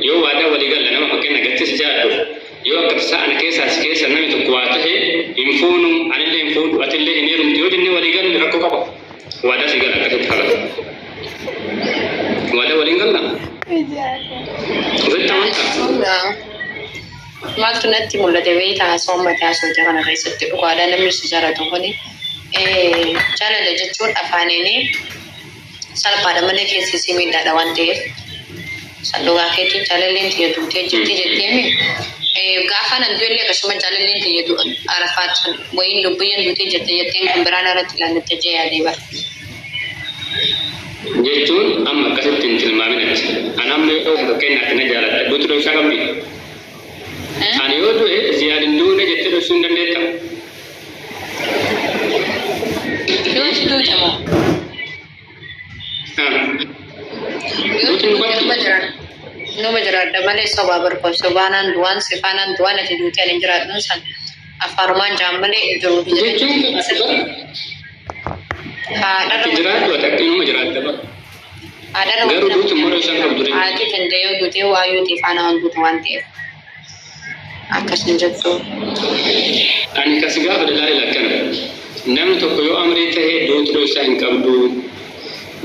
Yoo waadaa walii galla nama fakkeenya gatti si jaadhuuf yoo akka tasaa ana keessaa si keessa namni tokko waa tahe hin fuunu anillee hin fuudhu atillee hin heerumtu yoo jennee walii galle rakkoo qaba waadaa si gala akkasitti kala waadaa waliin galla ofitti amantaa Maaltu natti mul'ate beektaa haasawaa mataa soota kana keessatti dhugaadhaa namni si jaalatu kuni jaalala jechuun afaaniin Salphaadha malee keessi isii miidhaadha waan ta'eef. San dhugaa keetii jaalalleen tiyya duutee jirti jetteemi. Gaafa nan du'ellee akkasuma jaalalleen tiyya arafaat sun wayiin lubbuyyan duutee jirti jetteen kan biraa narratti ilaallatte jee yaadee bara. Jechuun amma akkasitti hin tilmaamin ati. An amma yoo fakkeenyaatti na jaalatte duuti dhoysaa qabdi? Ani yoo du'e Ziyaad hin duune jettee dhoysuu hin dandeetta? Nama jiraadha malee sobaa barbaadu. Sobaanaan du'aan sifaanaan du'aan ati duuti ani jiraadhu san afaanumaan jaan malee jiru. Jechuun Haadharra jiraatu ati akka nama jiraatta bara. haadharra Garuu duuti mara isaan qabdu. haati danda'ee duutee waayuu tifaanaa waan duutu waan ta'eef. akkas hin jettuu. Ani ka si gaafadhe laali lakkana, namni tokko yoo amrii tahe duuti dhoysaa hin qabduu?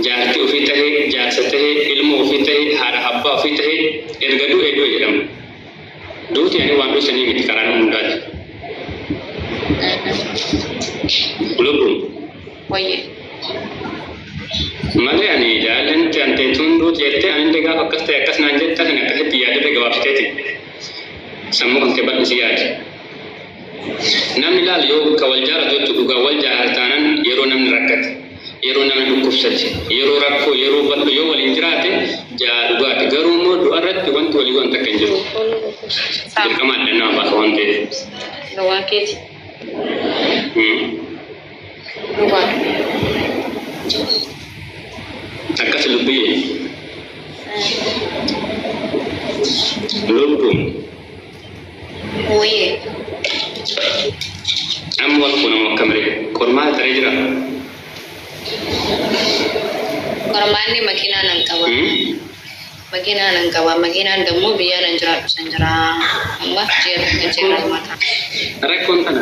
Jaartii ufii tahe, jaarsa tahe, ilmoo ufii tahe, haadha habbaa ufii tahe erga du'ee du'e jedhama. Duuti ani waan dhoysanii miti karaa nama hundaati. Lubbuun. Wayyee. Malee ani jaalalleen tantee tun duuti jettee anillee gaafa akkas ta'e akkas naan jetta kan akkasitti yaadadhee gabaabsiteeti. Sammuu kan kee bal'isi yaadi. Namni laal yoo ka wal jaalatu jechuun dhugaa wal jaalatu taanaan yeroo namni rakkate, yeroo namni dhukkubsate, yeroo rakkoo, yeroo bal'oo yoo waliin jiraate jaa dhugaati. Garuu immoo du'a irratti wanti walii waan takka hin jiru. Saam. Dirqama adda nama baasa waan ta'eef. Gowwaa keeti. Hmm. Akkas dubbii lubbuun Wee. amma wal quunamu akka malee qormaata taree jira. Qormaanni makiinaa nan qaba. Hmm? Makiinaa nan qaba. Makiinaan dammoo biyyaa nan jiraadhu san jira. Amma jeerra jeerra mataa. Rakkoon kana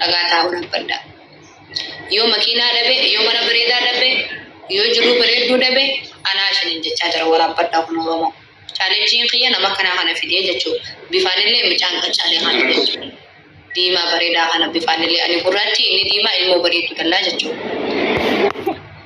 dhagaa taa'uu dhabbadha. Yoo makiinaa dhabe, yoo mana bareedaa dhabe, yoo jiruu bareedduu dhabe, anaa isiniin jechaa jira waraabbadhaa kun Oromoo. Chaalenjiin kiyya nama kanaa kana fidee jechuudha. Bifaan illee mucaan qaccaalee kana jechuudha. Diimaa bareedaa kana bifaan illee ani gurraachi inni diimaa ilmoo bareedduu dallaa jechuudha.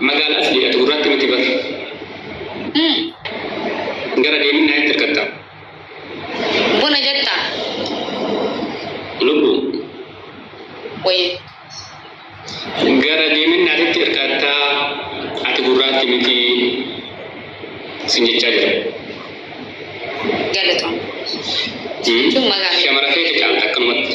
Magaala as dhi'atu irraatti miti bar. Ee. Gara deeminna itti hirkatta. Buna jetta. Lubbu. Wayye. Gara deeminna itti hirkatta ati gurraatti miti sin jechaa jira. Galatoom. Jechuun magaala. Shamara feete caalta akkanumatti.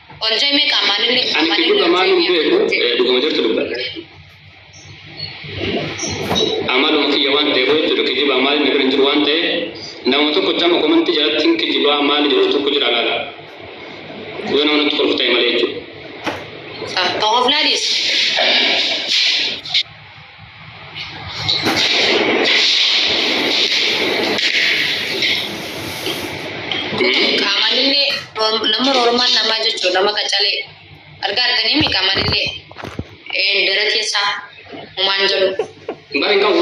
Ol jeme ka malin ni Ani malin kijiba maalum beeku eh, dhuguma jirtu dubbadha. Amaluma kiyya waan ta'eef jechuudha kijiba maali na bira hin jiru waan ta'eef nama tokko chama komantii jalatti hin kijibaa maali jedhu tokko jira laala. Yoo nama natti kolfu ta'e malee jechuudha. Ka hofnadis. Qaamanillee nama roormaan namaa jechuun nama qacalee argaa arganii mi qaamanillee dara keessaa humaan jedhu. Bara hin qabu.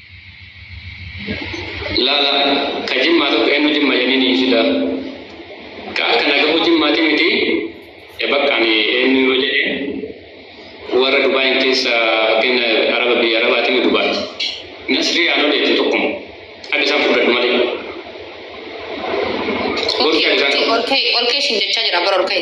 Laala ka jimmaa tokko eenyu jimma jennini sila ka akka nagahu jimmaati miti e bakka ani eenyu yoo jedhe warra dubaayin keessa fakkeenya araba biyya arabaati mi dubaati nasrii aanoo deetti tokkuma akka isaan fudhadhu malee Olkee, olkee, olkee, olkee siin jechaa jira bara olkee.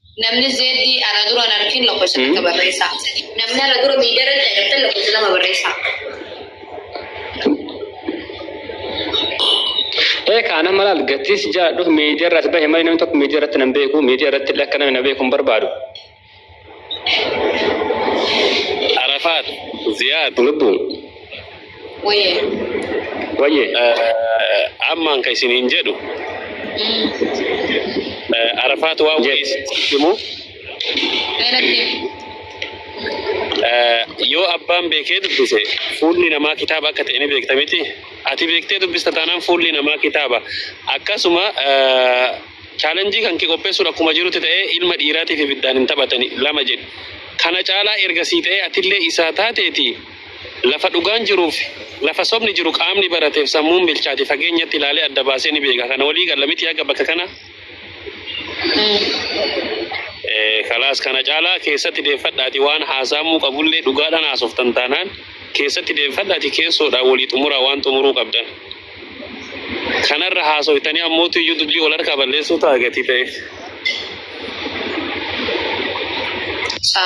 Namni zeeddii ana dura hin argin lakkoofsa Hmm. takka barreessaa. Namni ana dura miidiyarra hin agartan lakkoofsa lama barreessaa. Ee kaana malaal gatiis jaadhu miidiyaa irraas bahe malee namni tokko miidiyaa irratti nan beeku miidiyaa irratti illee akka namni na beeku hin barbaadu. Arafaat, Ziyaad, Lubbuun. Wayyee. Wayyee ammaan kan isin hin jedhu arafaat waa wayii himu yoo abbaan beekee dubbise fuulli namaa kitaaba akka ta'e ni beekta miti ati beektee dubbista taanaan fuulli namaa kitaaba akkasuma chaalenjii kan kee qopheessuun akkuma jirutti ta'ee ilma dhiiraatiif ibiddaan hin taphatani lama jedhu kana caalaa erga sii ta'ee atillee isaa taateeti Lafa dhugaan jiruufi lafa sobni jiru qaamni barateef sammuun bilchaate fageenyatti ilaalee adda baasee ni beeka. Kana walii galla mitii haga bakka kanaa? Ee, kalaas kana caalaa keessatti deeffadhaatii waan haasaamuu qabullee dhugaadhaan haasoftan taanaan keessatti deeffadhaatii keessoodhaan walii xumuraa waan xumuruu qabdan. Kanarra haasoftanii ammootu iyyuu dubbii wal harkaa balleessuu ta'a gatii ta'eef. Sa.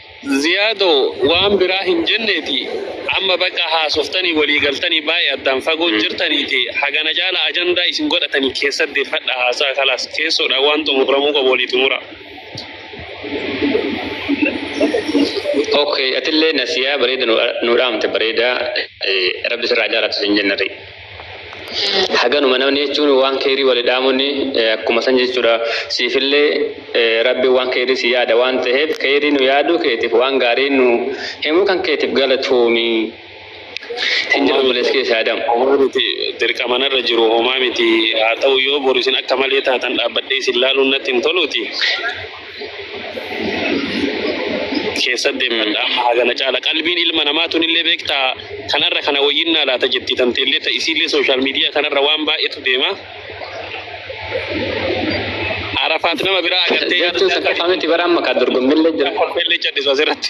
Ziyaado waan biraa hin jenneeti amma baqa haasoftanii walii galtanii baay'ee addaan fagoon jirtaniiti hagana caala ajandaa isin godhatanii keessa deeffadha haasaa kalaas keessoodha waan xumuramuu qabu walii xumura. Okay, atillee nasiyaa bareeda nu dhaamte bareeda rabbi sirraa jaalatu sin jennarri. haganuma namni jechuun waan keerii wali dhaamunni akkuma san jechuudha siifillee rabbi waan keerii si yaada waan ta'eef keerii nu yaaduu keetiif waan gaarii nu himuu kan keetiif galatoomi hin jedhu bulees keessa yaadam. Homaa miti dirqama narra jiru homaa miti haa ta'u yoo boru isin akka malee taatan dhaabbadhee isin laaluun natti hin toluuti. keessa deemmadha amma hagana caala qalbiin ilma namaa tunillee beektaa kanarra kana wayyinnaa laata jetti tanteellee ta isiillee sooshaal miidiyaa kanarra waan baay'eetu deema arafaat nama biraa agartee yaada Jechuun isaa saffaa miti bara amma kan dorgommillee jira. kolfeellee cadhisu asirratti.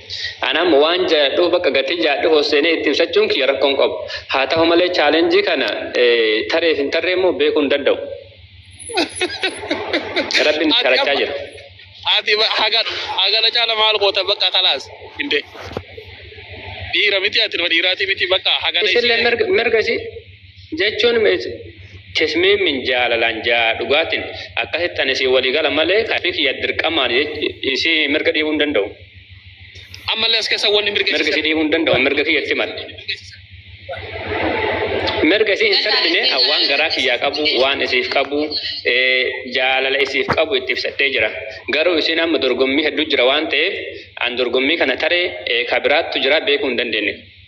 Anam waan jayadhu bakka gatii jayadhu hosseenee itti ibsachuun kiyya rakkoon qabu. Haa ta'u malee chaalenjii kana tareef hin tarree immoo beekuu hin danda'u. Rabbiin sharachaa jira. Ati hagana caala maal goota bakka kalaas hinde. Dhiira miti ati nama dhiiraati miti bakka hagana. Isin mirga isii. Jechuun meet Tesmimin jaalalaan jaa dhugaatin akkasitti ani siin walii gala malee ka ofii kiyya dirqamaan isii mirga dhiibuu hin danda'u. Ammallee as keessa wanni mirga Mirga isii dhiibuu hin danda'u mirga kiyya itti hima. Mirga isii hin sarbine waan garaa kiyyaa qabu waan isiif qabu jaalala isiif qabu itti ibsadhee jira. Garuu isiin amma dorgommii hedduu jira waan ta'eef an dorgommii kana taree ka biraattu jira beekuu hin dandeenye.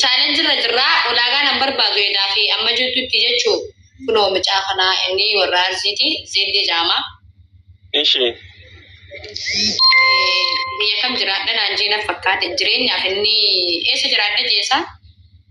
Chaalenjii irra jirraa ulaagaa nan barbaadu edaa fi amma jirtutti jechuu kunoo mucaa kanaa inni warra arsiiti zeeddii jaama. Ishi. Biyya kam jiraadha naan jee na fakkaate jireenyaaf inni eessa jiraadha jeesaa.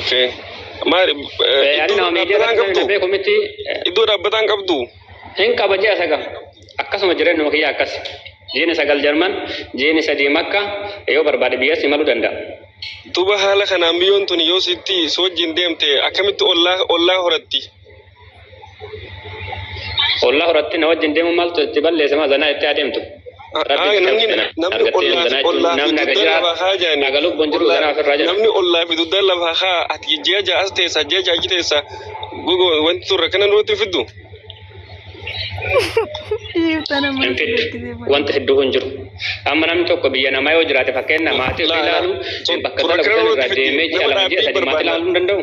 Okay. Maal Ani iddoo nama miidiyaa dhaabbataan irratti qabdu? beeku miti Iddoo dhaabbataan qabdu? hin qaba ji'a sagal akkasuma jireenya kiyya akkas jiini sagal jarman jiini sadii makka yoo barbaade biyyas imaluu danda'a. Duba haala kanaan biyyoon tun yoo sitti si wajjin deemte akkamitti ollaa ollaa horatti? Ollaa horatti na wajjin deemu maaltu itti balleessa maa zanaa itti adeemtu. Namni ollaa fi dugda lafa haa ati ji'a ja'a as teessa ji'a ja'a achi teessa wanti turre kana nutti fiddu. Wanti hedduu hin jiru. Amma namni tokko biyya namaa yoo jiraate fakkeenya maatii ofii ilaalu bakka dalagu irraa deemee ji'a lama ji'a sadii maatii ilaaluu hin danda'u.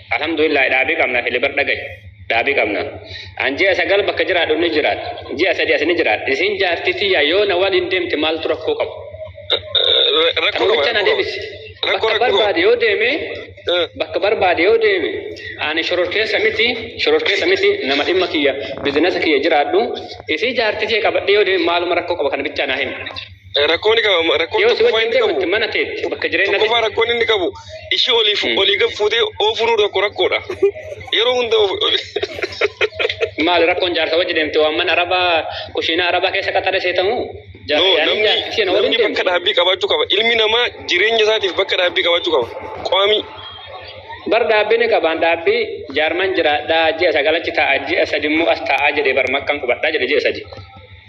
Alhamdulillah dhaabii qabna fili bar dhagahi. Dhaabii qabna. An ji'a sagal bakka jiraadhu ni jiraadha. Ji'a sadi as ni jiraadha. Isin jaartii tiyya yoo na waliin deemte maaltu rakkoo qabu? Rakkoo qaba. Namicha na deebisi. Rakkoo Bakka rakkoo. barbaade yoo deeme Eh. bakka barbaade yoo deeme ani shororkeessa miti shororkeessa miti nama dhimma kiyya bizinasa kiyya jiraadhu isii jaartii tiyya qabadhee yoo deeme maaluma rakkoo qaba kana bichaa naa himi. Rakkoo ni qaba. Rakkoon Yoo si tokkoffaa wajjin inni qabu. deemutti mana teetti bakka jireenya Tokkoffaa teetti. rakkoon inni qabu ishii oliif olii gad fuutee oofuun tokko rakkoodha. Yeroo hunda of- Maali rakkoon jaarsa wajjin deemte waan mana arabaa kushiinaa arabaa keessa qaxare seetamu? No, namni namni bakka dhaabbii qabaachuu qaba. Ilmi namaa jireenya isaatiif bakka dhaabbii qabaachuu qaba. Qaamii. Bar dhaabbii ni qabaan dhaabbii jaarman jiraadhaa ji'a sagalachi taa'a ji'a sadi immoo as taa'aa jedhee bar makkan qubadhaa jedhe ji'a sadi.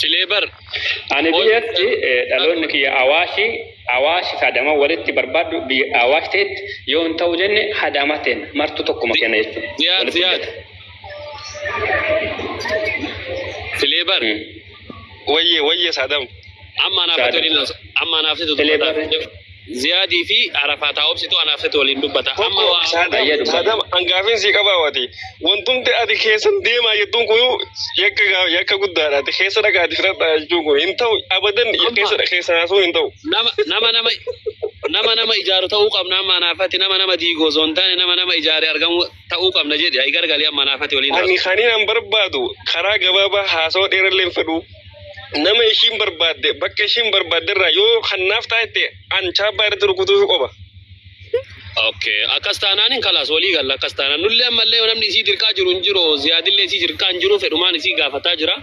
Silee bar. Ani biyyatti eh, dhaloonni kiyya awaashi awaashi kadama walitti barbaaddu biyya awaash ta'etti yoo hin ta'u jenne hadaama ta'en martu tokkuma kenna jechuudha. Ziyaad Walitti ziyaad. hidhata. Silee bar. Mm. Wayye wayye sadam. Amma anaaf Saadam. ta'u amma anaaf ta'u. Silee barri. Ziyaad fi Arafaa taa obsitu anaaf situ waliin dubbata. Amma Tokko waa saadam baay'ee dubbata. saadam hangaafin si qabaa wati wantumti ati keessan deemaa jettuun kun yakka gaa- yakka guddaadha ati keessa dhagaa ati firadhaa jechuun kun hin ta'u abadan Amma- keessa keessa naasuun hin ta'u. Nama nama nama nama nama ijaaru ta'uu qabna amma anaafatti nama nama diigoo osoo hin taane nama nama ijaare argamu ta'uu qabna jedhe ayi gargalee amma naafati waliin Ani haasaa. kanin an barbaadu karaa gabaabaa haasawaa dheerallee hin fedhu. Nama ishiin barbaadde bakka ishiin barbaadde irraa yoo kan naaf taate an chaappaa irratti rukutuuf qofa. Okay. Akkas taanaan hin kalaas walii galla akkas taanaan nullee ammallee namni isii dirqaa jiru hin jiru ziyaadillee isii dirqaa hin jiru fedhumaan isii gaafataa jira.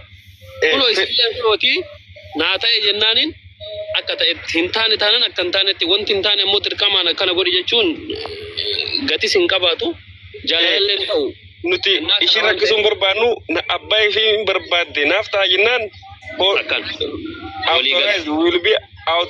Kunoo isillee kunooti naa ta'e jennaaniin akka ta'etti hin taane taanan akka hin taanetti wanti hin taane ammoo dirqamaan akkana godhi jechuun gatis hin qabaatu jaalalallee hin ta'u. Nuti ishii rakkisuun barbaannu abbaa ishii hin barbaadde naaf ta'a jennaan. Akkan. Walii gala. Will be out.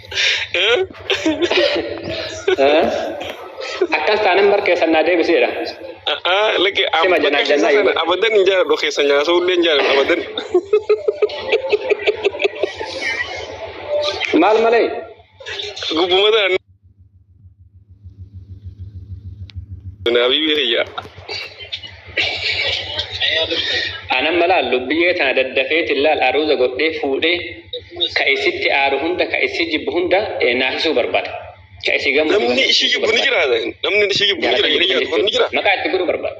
Akkas taanan bar keessan naa deebiseedha. Lagi Sima abaddan janaa keessaa jannaa sana yoo- abaddan hin jaaladhu keessa nyaasuu illee hin jaaladhu abaddan. Maal malee? Gubbuma tana Naabii biyya. Anan malaan lubbiyyee tana daddafeetiin laal aruuza godhee fuudhee ka isitti aaru hunda ka isi jibbu hunda naasisuu barbaada. Ka isi gammadu Namni ishii jibbu ni jira. Namni ishii jibbu ni jira. Jaalata Ishee jibbu ni jira. Maqaa itti godhuu barbaada.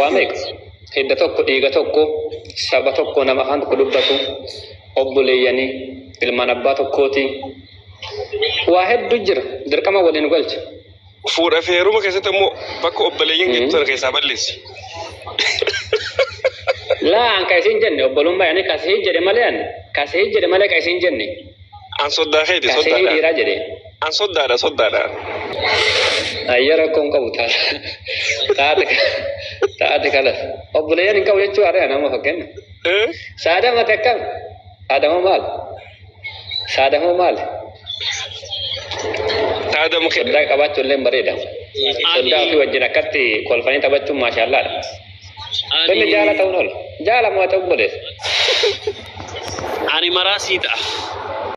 Waa meeqa? Hidda tokko, dhiiga tokko, saba tokko, nama afaan tokko dubbatu, obboleeyyanii, ilmaan abbaa tokkooti. Waa hedduu jira. Dirqama waliin nu galcha. Fuudha fi heeruma keessatti immoo bakka obboleeyyiin gidduu sana keessaa balleessi. Laa an ka isin jenne obbolummaa yani ka isin jedhe malee an ka isin jedhe malee ka isin jenne. An soddaa keeti Kaasee yoo soddaadha. dhiiraa jedhe. An soddaadha soddaadha. Ayya rakkoon qabu taata. Taata taata kalas. Obboleeyyan hin qabu jechuu haadha nama fakkenna. Eh? Saadama takkam. Saadama maal? Saadama maal? Taada mukee. Soddaa qabaachuun illee bareeda. Soddaa ofii wajjin akkatti kolfanii taphachuun maashaallaadha. Inni Ani jaala ta'uun oola. Jaala moo ati obboleessa? ani maraa sii ta'a.